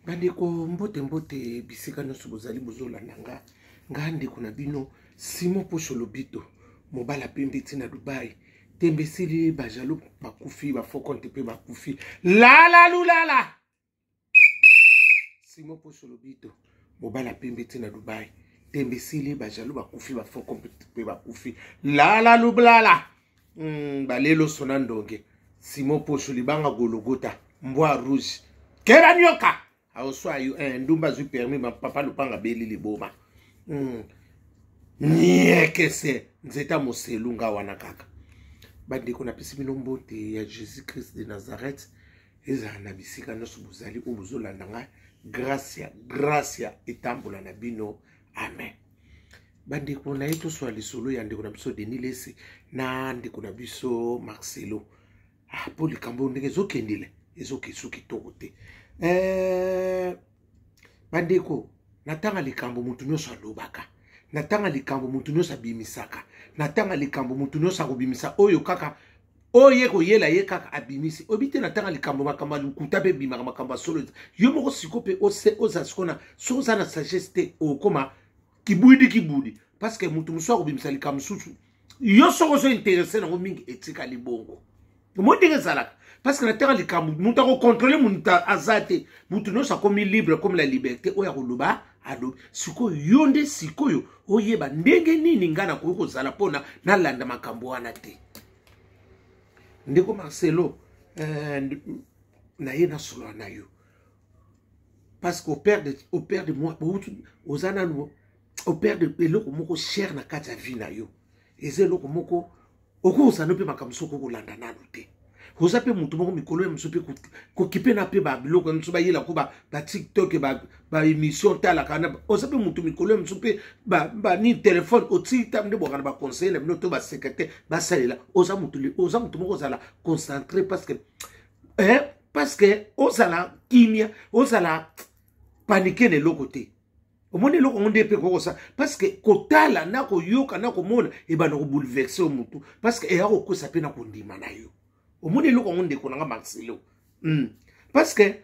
bandeko mbote mbote bisika nyonso bozali bozolanda nga nga ndeko na bino simon posho lobito mobala pembe ti na dubai tembe esili bajalo bakufi bafokonte mpe bakufi lalalulala simon posho lobito mobala pembe ti na dubai tembe esili bajalo bakufi bafokonte mpe bakufi lalalulala mm, balelo sona ndonge simo poso libanga gologota mbwa rouge kera nyoka aoswa yo eh, ndumba azwi permis papa lupanga beli liboma mm. niekese nzeta moselu nga wana kaka bandeko napesi bino mbote ya jésus christ de nazareth ezala na bisika nyonso bozali oyo bozolanda ngai gracia gracia etambola na bino amen bandeko na ye toswa lisolo ya ndeko na biso denis lesi na ndeko na biso marcelo ah, mpo likambo ndenge ezokendele ezokesu kitoko te eh, bandeko natanga likambo motu nyonso alobaka natanga likambo motu nyonso abimisaka natanga likambo motu nyonso akobimisa oyo kaka oyo ye koyela ye kaka abimisi oyebi te natanga likambo makambo ya lokuta mpe ebimaka makambo ya solo yo moko siko mpe oza siko na soki oza na sagesse te okoma kibudi kibudi parce que moto mosusu akobimisa likambo mosusu yo soki ozo interesse nango mingi etikali bongo omoi ndenge ezalaka parce que natanga likambo moto akokontrole moto aza te moto nyonso akomi libre akomi na liberté oyo akoloba alobi sikoyo yo nde sikoyo oyeba ndenge nini ngai nakoki kozala mpona nalanda makambo wana te ndeko marcelo eh, naye nasolola na yo parce que operde operde moi outi oza nanu operde eloko moko chere na kati ya vie na yo eza eloko moko okozala mpe makambo soki okolanda nano te oza mpe moto moko mikolo ya mosu mpe kokipe na mpe babiloko ya mosu bayela ko batiktok baémission talaka na oza mpe moto mikolo ya mosu mpe banini telefone otii ntango nde bwaka na baconseiller na bino to basecretaire basalela oza moto oza moto moko ozala concentré parce que eh, parce que ozala kimia ozala panike na eloko te omoni eloko yango nde mpe kokosa parceke kotala na koyoka na komona ebanda kobouleverse yo motu parceke eya kokwesa mpe na kondima na yo omoni eloko yango ndeko na nga marcelo mm. parceke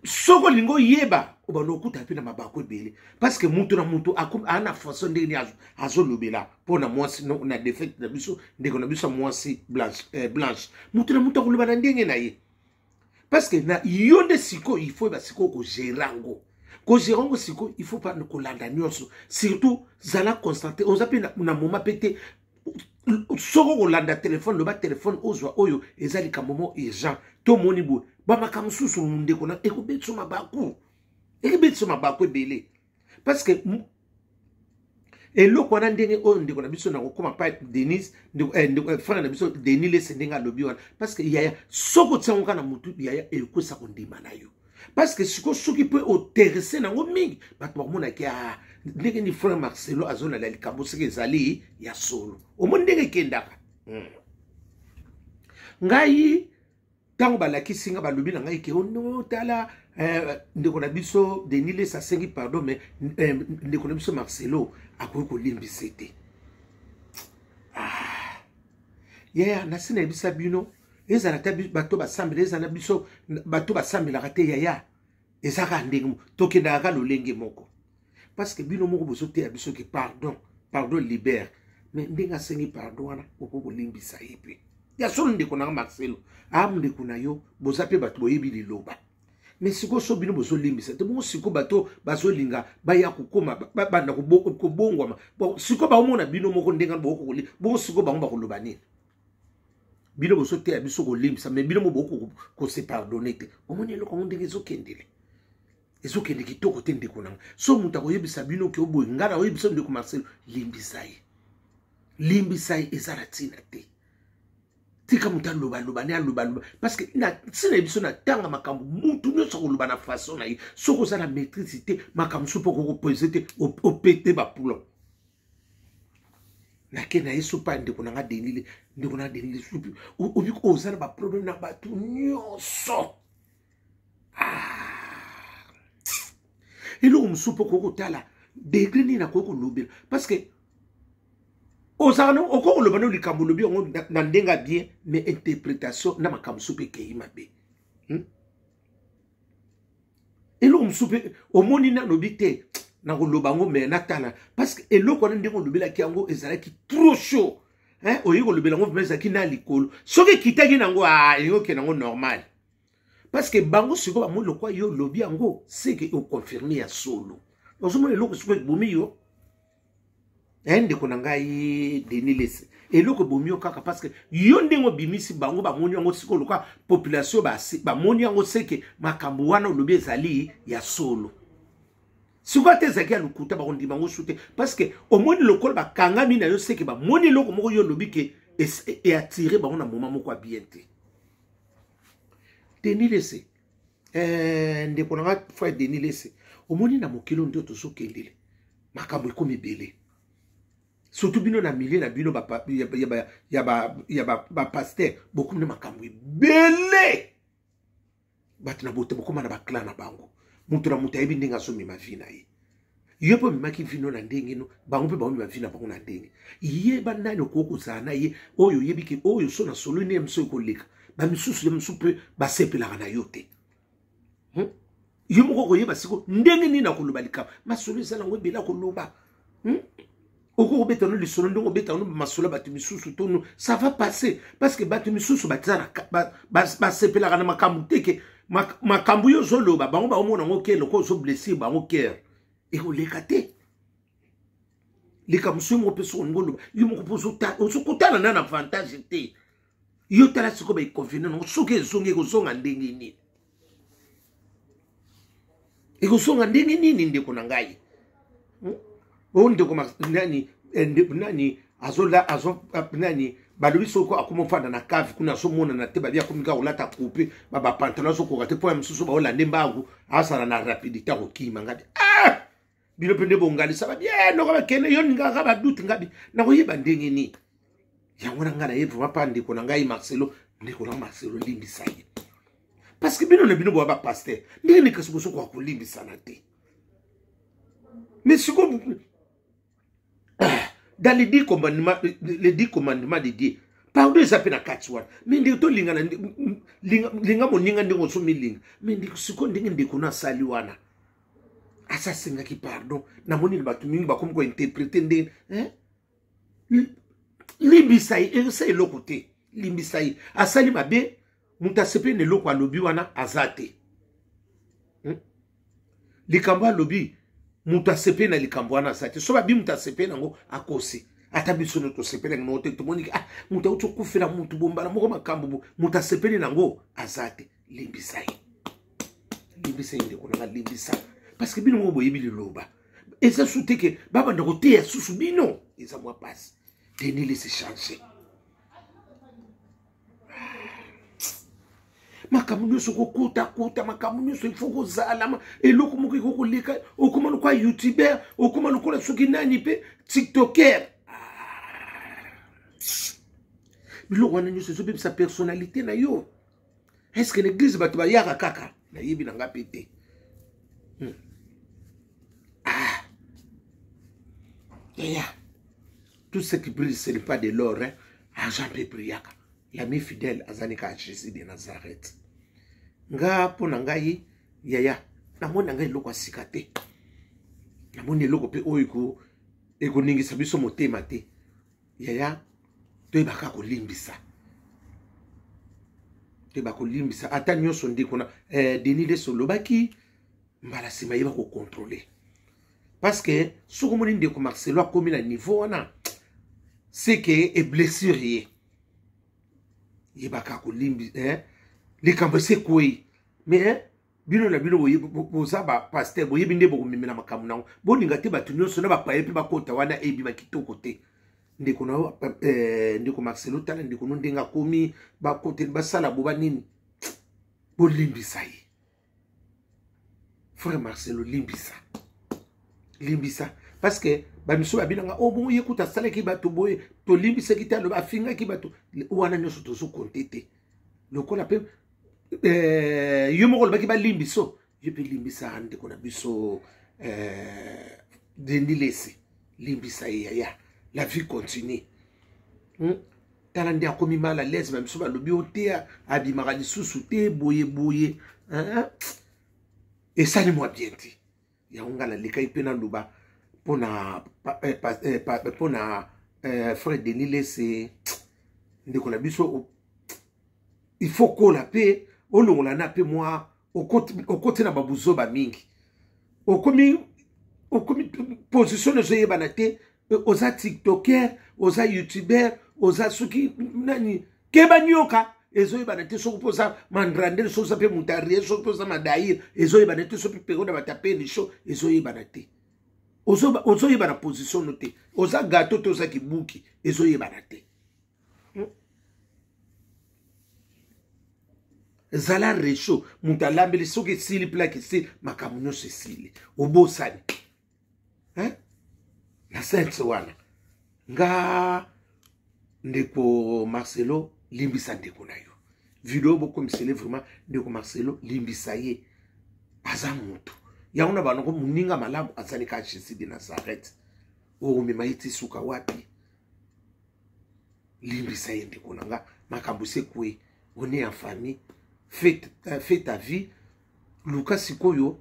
soki olingi oyeba obanda okuta mpe na mabaku ebele parceke moto na moto aa na façon ndenge nini azolobela mpo na mwasi na defete na biso ndeko na biso ya mwasi blanche, eh, blanche. moto na moto akoloba na ndenge na ye parce que na yo nde sikoyo il faut ba sikoyo kogere yango kogere yango sikoyo il faut pa kolanda nyonso surtout zala constante oza mpe na, na moma mpe te soko kolanda telefone loba telefone ozwa oyo eza likambo mo urgent tomoni boye bamaka mosusu ndeko na ekobetisa mabaku ekobetisa mabaku ebele parce que eloko wana ndenge oyo ndeko na biso nakokoma pa denis ndeko, eh, ndeko, eh, frère na biso denis lese ndenge alobi wana parce que yaya soki otiango kaka na motu yaya ekosa kondima na yo parce que sikoyo soki mpe oterese nango mingi bato bakomonaki ah, ndenge ni frère marcelo azolala likambo soki ezali ya solo omoni ndenge ekendaka hmm. ngai ntango balakisi nga balobi na ngai ke ono tala eh, ndeko na biso denis les asengi pardon mais eh, ndeko na biso marcelo akoki kolimbisa te ah. yaya nasi nayebisa bino ezala ata bato basambela ezala biso bato basambelaka te yaya eza kaka ndenge moko tokendaka kaka lolenge moko parce que bino moko bozoteya biso ke pardon pardon libere mais ndenge asengi pardon wana okoki kolimbisa ye mpe ya solo ndeko nanga marcelo a ndeko na yo boza mpe bato boyebi liloba mais sikoyo so bino bozolimbisa te bongo sikoyo bato bazolinga baya kokoma babanda kobongwama sikoyo baomona bino moko ndenge bokokoli bongo sikoyo bango bakoloba nini bino bozoteya biso kolimbisa me bino moboki kose pardonne te omoni eloko yango ndenge ezokendele ezokende kitoko te ndeko nango so moto akoyebisa bino ke oboye ngai nakoyebisa ndeko marcelo limbisa ye limbisa ye eza na ntina te tika moto alobaloba ne alobaloba parce que ntina ye biso natanga makambo motu nyonso akoloba na façon na ye soki oza na maîtrise te makambo so mpo okokopose te opete bapoulon nake na ye sopa ya ndeko na nga denile ndeko na denile supi obi oza na baproblème na bato nyonso ah. eloko mosusu mpo okoki kotala degre nini nakoki kolobela parce que ozala na okoki koloba no likambo olobi yango na ndenge ya bien mais interprétation na makambo mosusu mpe ekei mabe hmm? eloko mosusu mpe omoni nalobi te nakoloba yango me natala parce que eloko wana ndenge olobelaki yango ezalaki trop chaud hein? oyebi kolobela yango vraimen ezalaki na likolo soki ekitaki na yango ah, elingi okende yango normal parce que bango sikoyo bamoni lokwa yo olobi yango seke okonfirme ya solo ozomona eloko sikoyo ebomi yo eh ndeko na ngai denis lese eloko ebomi yo kaka parce que yo ndenge obimisi bango bamoni yango sikoyo lokola population bamoni yango seke makambo wana olobi ezali ya solo sikoyo ata ezalaki ya lokuta bakondima yango su te parce que omoni lokola bakangami na yo seke bamoni eloko moko yo olobi ke eatire bango na moma moko ya bien te denis lese eh, ndeko na nga frère denis lese omoni na mokili oyo nde tozokendele makambo ekomi ebele surtout bino na milieu na bino ya bapaster bokomi na makambo ebele bato na bote bokoma na baclan na bango moto na moto ayebi ndenge azomema vi na ye yo mpe omemaki vino na ndenge no bango mpe baomema vino na bango na ndenge yeba nani okoki kozala na ye oyo oyebi ke oyo so na solo nde mosu ekoleka bamisusu ya mosusu mpe basepelaka na yo te hmm? yo moko okoyeba siko ndenge nini akoloba likambo masolo ezala yango ebele akoloba hmm? okoki kobeta no lisolo ndenge obeta no masolo bato misusu to no ça va passer parce que bato misusu basepelaka na makambo te ke makambo yo ozoloba bango baomona yango ke loko ozoblessir bango kere ekoleka te likambo soki moko mpe soko ndingo oloba yo moko mpe ozokotana na na avantage te yo tala sikoyo baekonvene nango soki ezongi ekozonga ndenge nini ekozonga ndenge nini ndeko na ngai hmm? o ndeko nani eh, ndeko nani azola azo ah, nani balobi soko akoma ofanda na cave kuna azomonana te babi akomi kaka kolata coupe babapantalon azokoka te mpo ya mosusu baolande mbangu asala na rapidité akokima ngadi ah! bino mpe nde bongalisa babi e noko bakende yo ningaka badute ngabi nakoyeba ndenge nini yango wana ngai naye vraimen mpa ndeko na ngai marcelo ndeko na marcelo limbisa ye parce que bino na bino boya bapaster ndenge nini kasi bosokoka kolimbisana te mais siko dans les dix commandements les dix commandements de dieu pardon eza mpe na kati wana me ndeko tolingana linga moninga ndenge oso milinga me ndeko sikoyo ndenge ndeko na asali wana asi asengaki pardon namoni bato mingi bakomi kointerprete ndenge eh? limbisa ye esa eloko te limbisa ye asali mabe moto asepeli na eloko alobi wana aza te hmm? likambo alobi moto asepeli na likambo wana aza te so babi moto asepeli yango akosi ata biso no tosepeli yango te tomoniki ah moto auti okufela moto bombala moko makambo moto asepeli na yango aza te limbisa ye limbisa ye ndeko nanga limbisa parce que bino moko boyebi liloba eza su te ke babanda koteya susu bino eza mwa mpasi denis lesi change makambo nyonso kokotakota makambo nyonso ifo kozalama eloko moko ekoki koleka okoma lokola youtuber okoma lokola soki nani mpe tiktoker ah. biloko wana nyonso ezobebisa personnalité na yo est ce que na eglise bato bayaka kaka nayebi na nga mpe te hmm. ah. yaya tout ce qui brille ce n'est pas de l'or hein? argent mpe brillaka l'ami fidèle azali kaka jésus de nazareth nga mpo na ngai yaya namoni na ngai eloko ya sika te namoni eloko mpe oyo ekoningisa biso motema te yaya toyebaka kolimbisa toyeba kolimbisa ata nyonso nde kuna eh, denis leso olobaki mbala nsima yeba kokontrole parce que soki omoni ndeko marcelo akomi na niveau wana seke eblessure ye yebaka kolimbi eh? likambo esi ekwei mais eh? bino na bino boza bapaster boyebi nde bokomemela makambo nango bolinga te bato nyonso na bapaye mpe bakota wana ebima kitoko te ndeko na yo eh, ndeko marcelo tala ndeko no ndenge akomi bakoteli basala boba nini bolimbisa ye frère marcelo limbisa limbisa parce que bamisu babinanga o oh, bongo ye kuta asalaki bato boye tolimbisaki te aloba afingaki bato wana nyonso tozokonte te lokola mpe eh, yo moko olobaki balimbiso yo mpe limbisa ndeko na biso eh, dendi lesi limbisa ye yaya la vie continue hmm? tala nde akomi mal à l'aise bamiso balobi o te abimaka lisusu te boye boye esali mwa bien te yango ngai nalekaki mpe naloba mpo na eh, eh, mpo na eh, frère denis lese ndeko na biso il faut kola mpe olongola na mpe mwa okoti na babuzoba mingi okomi okomi position ezoyebana te oza tiktoker oza youtuber oza soki nani keba nioka ezoyebana te soki mpo oza mandrandele soki oza mpe mutarie soki mpe oza madaire ezoyebana te soki mpe peko na batapeli sho ezoyebana te ozoyebana position no te oza gato to oza kibuki ezoyebana te hmm? zala rechaud moto alambeli soki esili plake esili makambo nyonso esili obosani hein? na sense wana nga ndeko marcelo limbisa ndeko na yo video bokomisele vraiment ndeko marcelo limbisa ye aza moto yango na banoko moninga malamu azali ka jésus de nazareth okomema ye ti suka wapi limbisa ye ndeko na nga makambo esekwe one ya famille fait ta vie luka sikoyo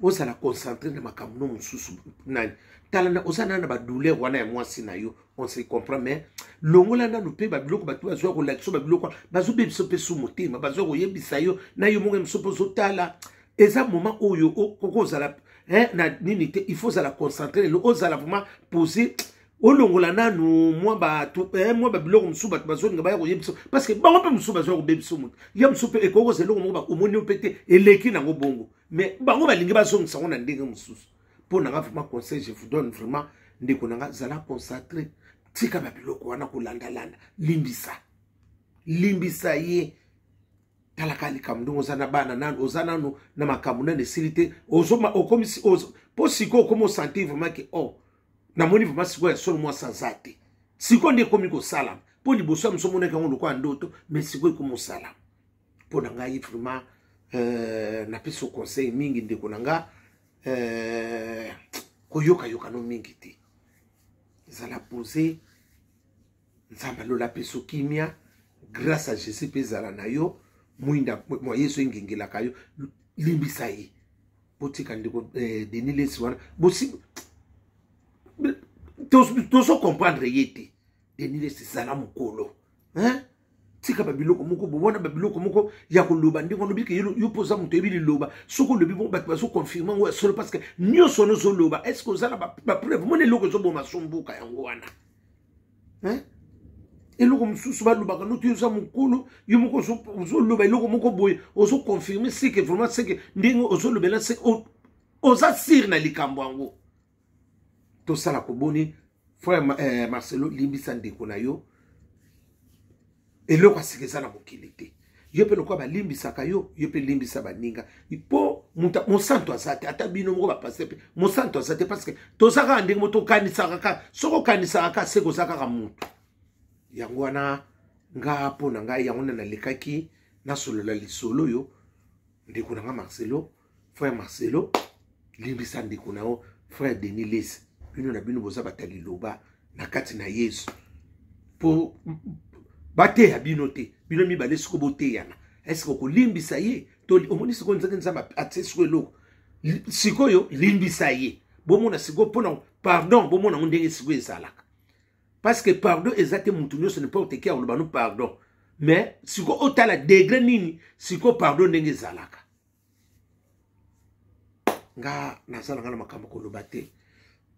ozala concentre na makambo no mosusu nani tala na oza nana na badouleur wana ya mwasi na yo on se comprend mais longola nanu mpe babiloko bato bazwa kolakisa babiloko bazobebisa mpe su motema bazwa koyebisa yo na yo moko mosusu mpe ozotala eza moment oyo okozala na nini te il faut ozala concentre lelo ozala vraiment pose olongola nanu mwa bato eh, mwa babiloko mosusu bato bazolinga baya koye biso parceke bango mpe mosusu bazoya kobe biso moto ya mosusu mpe ekoki kozala eloko moko bakomoni yo mpe te eleki nango bongo mais bango balingi bazongisa yango na ndenge mosusu mpo nanga vraiment conseil je vous donne vraiment ndeko nanga zala concentre tika babiloko wana kolandalanda limbisa limbisa ye talaka likambo ndenge oza na bana nano oza nano na makambo nano esili te okomisi mpo sikoyo okomi osentir vraiment ke o oh, namoni vraimen sikoyo ya solo mwasi aza te sikoyo nde ekomi kosalama mpo liboso ya moso omonaki yango lokola ndoto me sikoyo ekomi kosalama mpo na ngai vraimen euh, napesi conseil mingi ndeko na nga euh, koyokayokano mingi te zala pose nzambe alola apesa kimia grâce à jésus mpe ezala na yo mwinda mwa yesu engengelaka yo limbisa ye botika ndeko eh, denis lesi wana bosi tozo comprendre ye te denis lesi zala mokolo hein? tika babiloko moko bomona babiloko moko ya koloba ndenge olobi ke yo mpo oza moto oyebi liloba soki olobi bongo bato bazoconfirme yango ya solo parce que nyonso wana ozoloba est ce que oza na bapreuve mona eloko ezoboma sombuka yango wana hein? eloko mosusu balobaka noki oza mokolo yo moko ozoloba eloko moko boye ozoconfirme seke vraiment seke ndenge ozolobela se oza sire na likambo yango tosala koboni frère eh, marcelo limbisa ndeko na yo eloko asika eza na mokili te yo mpe lokola balimbisaka yo yo mpe limbisa baninga mpo mosantu aza te ata bino moko bapase mpe mosantu aza te parceke toza kaka ndenge mo tokanisaka kaka soki okanisaka kaka seke oza kaka motu yango wana nga mpo na ngai yango nde nalekaki nasolola lisolo oyo ndeko na nga marcelo frère marcelo limbisa ndeko na yo frère denis lesi bino na bino boza bata liloba na kati na yesu mpo bateya bino te bino mibale soko boteyana eske okolimbisa ye to omoni sikoyo nzaki nzambe atie siko eloko sikoyo limbisa ye bomona sikoyo mpona pardon bomona yango ndenge sikoyo ezalaka parce que pardon eza te mutu nyonso n'importe qui akoloba no pardon mais siko otala degre nini siko pardon ndenge ezalaka nga naza na nga na makambo koloba te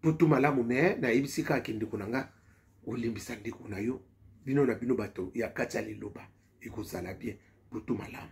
tutu malamu me nayebisi kaka kindeko na nga olimbisa ndeko na yo bino na bino bato ya kati ya liloba ekozala bien tutu malamu